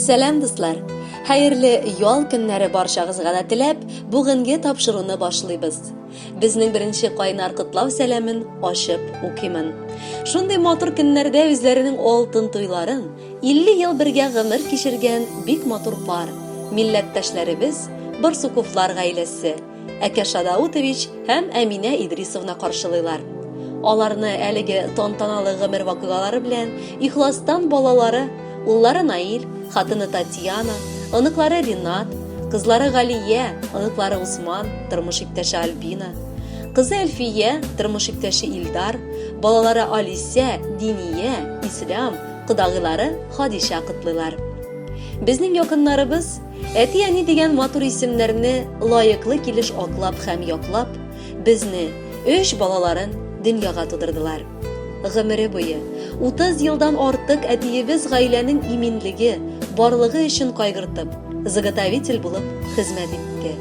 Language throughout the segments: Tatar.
Сәлам дуслар! Хәерле ял көннәре барчагызга да теләп, бүгенге тапшыруны башлыйбыз. Безнең беренче кайнар котлау сәламен ачып укимын. Шундый матур көннәрдә үзләренең алтын туйларын 50 ел бергә гомер кичергән бик матур пар, милләттәшләребез Барсуковлар гаиләсе Әкәш Адаутович һәм Әминә Идрисовна каршылыйлар. Аларны әлеге тантаналы гомер вакыйгалары белән ихластан балалары, уллары Наил, хатыны Татьяна, оныклары Ринат, кызлары Галия, оныклары Усман, тормыш иптәше Альбина, кызы Әлфия, тормыш иптәше Илдар, балалары Алисә, Диния, Ислам, кодагыйлары Хадиша котлыйлар. Безнең якыннарыбыз Әти-әни дигән матур исемнәрне лаеклы килеш аклап һәм яклап, безне, өч балаларын, дөньяга тудырдылар. Гомере буе, 30 елдан артык әтиебез гаиләнең иминлеге, барлыгы өчен кайгыртып, заготовитель булып хезмәт итте.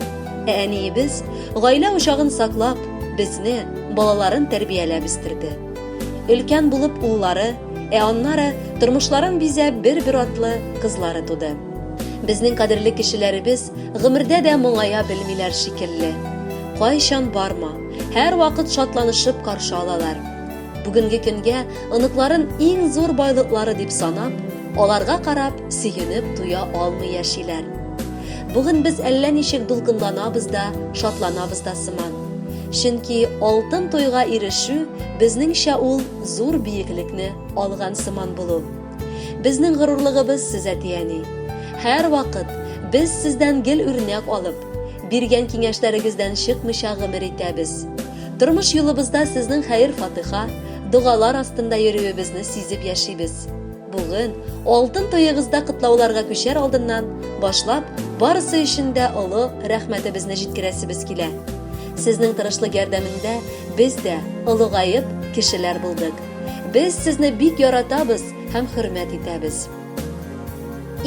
Ә әниебез, гаилә учагын саклап, безне, балаларын тәрбияләп үстерде. Өлкән булып уллары, ә аннары тормышларын бизәп бер-бер атлы кызлары туды. Безнең кадерле кешеләребез гомердә дә моңая белмиләр шикелле. Кайчан барма, һәрвакыт шатланышып каршы алалар. Бүгенге көнгә оныкларын иң зур байлыклары дип санап, аларга карап, сөенеп туя алмый яшиләр. Бүген без әллә ничек дулкынланабыз да, шатланабыз да сыман. Чөнки алтын туйга ирешү, безнеңчә ул зур биеклекне алган сыман булу. Безнең горурлыгыбыз сез, әти-әни. Һәрвакыт без сездән гел үрнәк алып, биргән киңәшләрегездән чыкмыйча гомер итәбез. Тормыш юлыбызда сезнең хәер-фатыйха, догалар астында йөрүебезне сизеп яшибез. Бүген, алтын туегызда котлауларга күчәр алдыннан башлап, барысы өчен дә олы рәхмәтебезне җиткерәсебез килә. Сезнең тырышлык ярдәмендә без дә, олыгаеп, кешеләр булдык. Без сезне бик яратабыз һәм хөрмәт итәбез.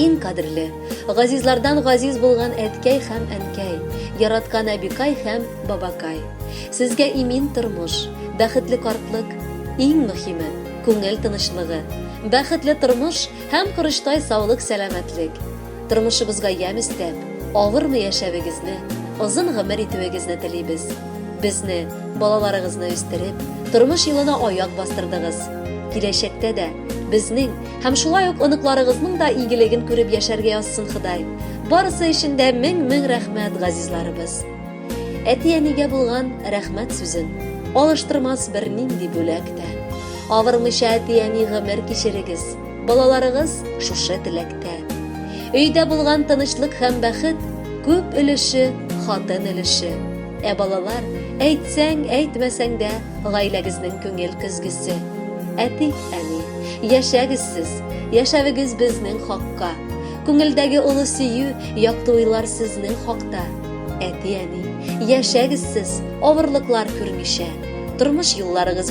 Иң кадерле, газизлардан газиз булган әткәй һәм әнкәй, яраткан әбикай һәм бабакай. Сезгә имин тормыш, бәхетле картлык, иң мөхиме, күңел тынычлыгы, бәхетле тормыш һәм корычтай саулык-сәламәтлек. тормышыбызга ямь өстәп, авырмы яшәвегезне, озын гомер итүегезне телибез. Безне, балаларыгызны үстереп, тормыш юлына аяк бастырдыгыз. Киләчәктә дә безнең һәм шулай ук оныкларыгызның да игелеген күреп яшәргә язсын Ходай. Барысы өчен дә мең-мең рәхмәт, газизларыбыз. Әти-әнигә булган рәхмәт сүзен алыштырмас бернинди бүләк тә. Авырмыйча әти-әни гомер кичерегез. Балаларыгыз шушы теләктә. Өйдә булган тынычлык һәм бәхет күп өлеше хатын өлеше. Ә балалар, әйтсәң, әйтмәсәң дә, гаиләгезнең күңел көзгесе. Әти, әни, яшәгез сез, яшәвегез безнең хакка. Күңелдәге олы сөю, якты уйлар сезнең хакта. Әти, әни, яшәгез сез, авырлыклар күрмичә. Тормыш юлларыгыз